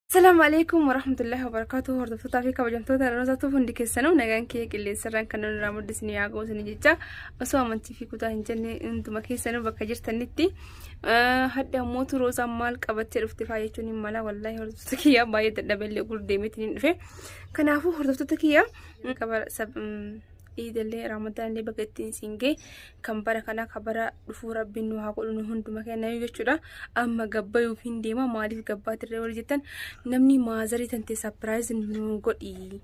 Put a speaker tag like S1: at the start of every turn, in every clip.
S1: Assalamu alaikum warahmatullahi wabarakatuh hordoftoota fi kabajamtoota roozatuuf hundi keessanuu nagaan kiyya qilleensarraan kan irraa muddisni yaa ga'u isin jecha osoo amantii fi kutaa hin jenne hunduma keessanuu bakka jirtanitti hadha mootu roozaan maal qabattee dhufte faa jechuun hin mala wallaahi hordoftoota kiyya baay'ee dadhabeellee gurdeemeetiin hin dhufe kanaafuu hordoftoota kiyya iidallee ramaddaanillee baga ittiin siin ga'e kan bara kanaa kan bara dhufuu rabbiin nu haa godhu nu hunduma kennayu jechuudha amma gabbayuuf hin deema maaliif gabbaa tirree wal jettan namni maazarii tantee sapiraayiz nu godhi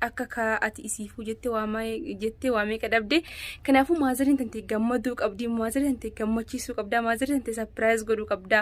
S1: akka kaa ati isiifuu jettee waamaa jettee waa meeqa dhabde kanaafuu maazariin tantee gammaduu qabdi maazarii tantee gammachiisuu qabdaa maazarii tantee sapiraayiz godhuu qabdaa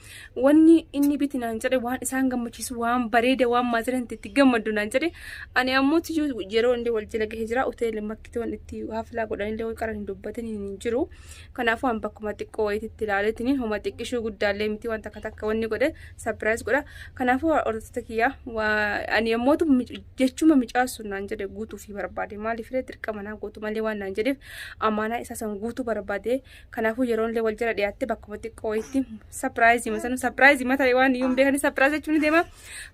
S1: Wanni inni biti naan jedhe waan isaan gammachiisu waan bareeda waan maatirant itti gammaddu naan jedhe ani ammoo tiyyuu yeroo illee wal jala gahee jira hoteela makkitoon itti haflaa godhan illee qaran hin dubbatin hin jiru kanaafuu an bakkuma xiqqoo wayiitti ilaaleetiin homa xiqqishuu guddaallee miti waan takka takka wanni godhe sapiraayis godha kanaafuu hordoftoota kiyyaa ani ammoo jechuma micaasuu naan jedhe guutuu fi barbaade maaliif illee dirqama naa guutu malee waan naan jedheef amaanaa isaa san guutuu barbaade Kanaafuu yeroon illee wal jala dhiyaatte bakkuma xiqqoo wayitti sapiraayizii masanu sapiraayizii mata waan iyyuu hin beekani sapiraayiz jechuun ni deema.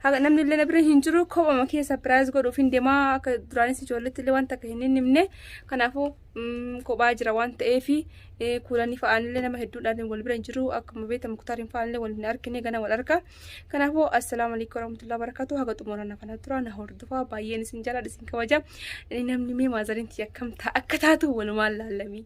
S1: Haga namni illee na bira hin jiru kophama kee sapiraayiz godhuuf hin deema akka duraanis ijoolletti illee wanta akka hin himne kanaafuu mm, kophaa jira waan ta'eef kuulanii fa'aan illee nama hedduudhaan wal bira hin jiru akkuma beekamu kutaariin fa'aan illee wal hin argine gana wal arga. Kanaafuu assalaamu alaikum warahmatullahi wabarakatuh haga xumura na fana tura na hordofaa baay'een isin jaalladha isin kabaja namni mee maazariin tiyya akkam ta'a akka taatu walumaan laallamii.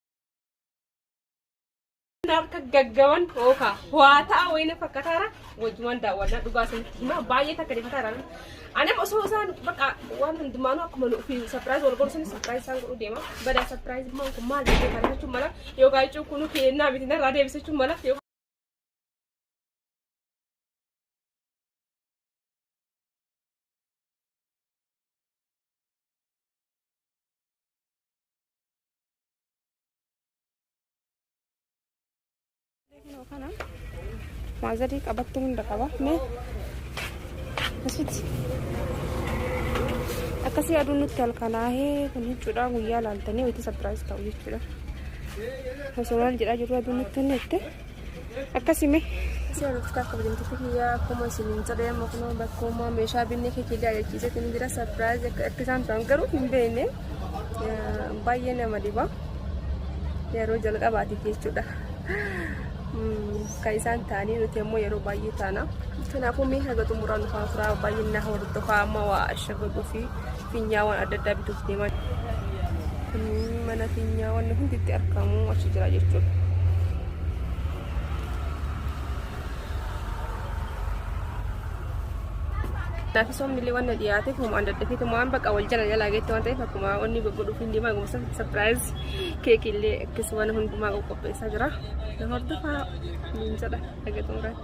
S1: harka gaggaban ooka waataa wayina fakkataara wajjumaan daawwannaa dhugaa isinitti himaa baay'ee takka deemataara anem osoo isaan baqa waan hundumaanuu akkuma nu fi sapiraayiz wal gorsan sapiraayiz isaan godhuu deema badaa sapiraayiz maan kun maal jechuu kana jechuun mala yookaan jechuun kun keennaa miti narraa deebisachuun mala yookaan Maazarii qabattuu hunda qaba. Mee asitti akkasii aduun nutti halkanaahee kun jechuudha guyyaa laaltanii wayita sapiraayiz ta'u jechuudha. Osoo maal jedhaa jirru aduun nutti hanneette. akkasime Isin nuuf akka kabajamtoota kiyyaa akkuma isin hin jedhee amma kunoo bakka uumaa meeshaa binnee kee kiyyaa jechiisetti ni jira sarpiraayizii akka akka isaan ta'an garuu hin beekne Eh, baay'ee nama dhiba yeroo jalqabaatiif jechuudha. Mm, Kan isaan ta'anii nuti ammoo yeroo baay'ee taana. Kanaafuu mee haga xumuraa nufaa turaa baay'inna hordofaa amma waa ashagaguu fi Finyaawwan adda addaa bituuf deemaa jiru. Kun mana finyaawwan hundi itti argamu achi jira jechuudha. Kanaafis waan millee waan na dhiyaateef homaa adda addaa fiitu waan bakka wal jala jalaa geetti waan ta'eef akkuma onni gurgudhuuf hin deemaa gumsa sapiraayiz keekii illee akkis waan hundumaa qopheessaa jira. Na hordofaa niin jedha dhagatuun irratti.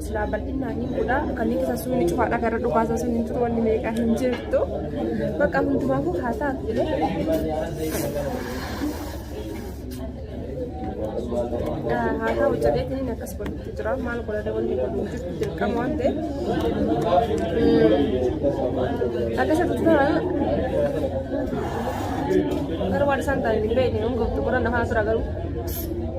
S1: silaa bal'inaan hin godha kanneen keessa suunni cufaadha gara dhukaasa sun hin jiru wanni meeqa hin jirtu bakka hundumaafuu haa taatu haa ta'u jedheetiin akkas godhutti jira maal godhata wanni godhu hin jirtu dirqama waan ta'eef akkasa tuttura garuu waan isaan ta'an hin beekne hin goftu godhan hafaa tura garuu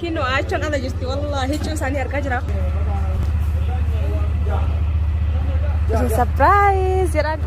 S1: Kinoo aachaan ala jirti wallaahi hiccuu isaanii argaa jira. Isin surprise jedhan.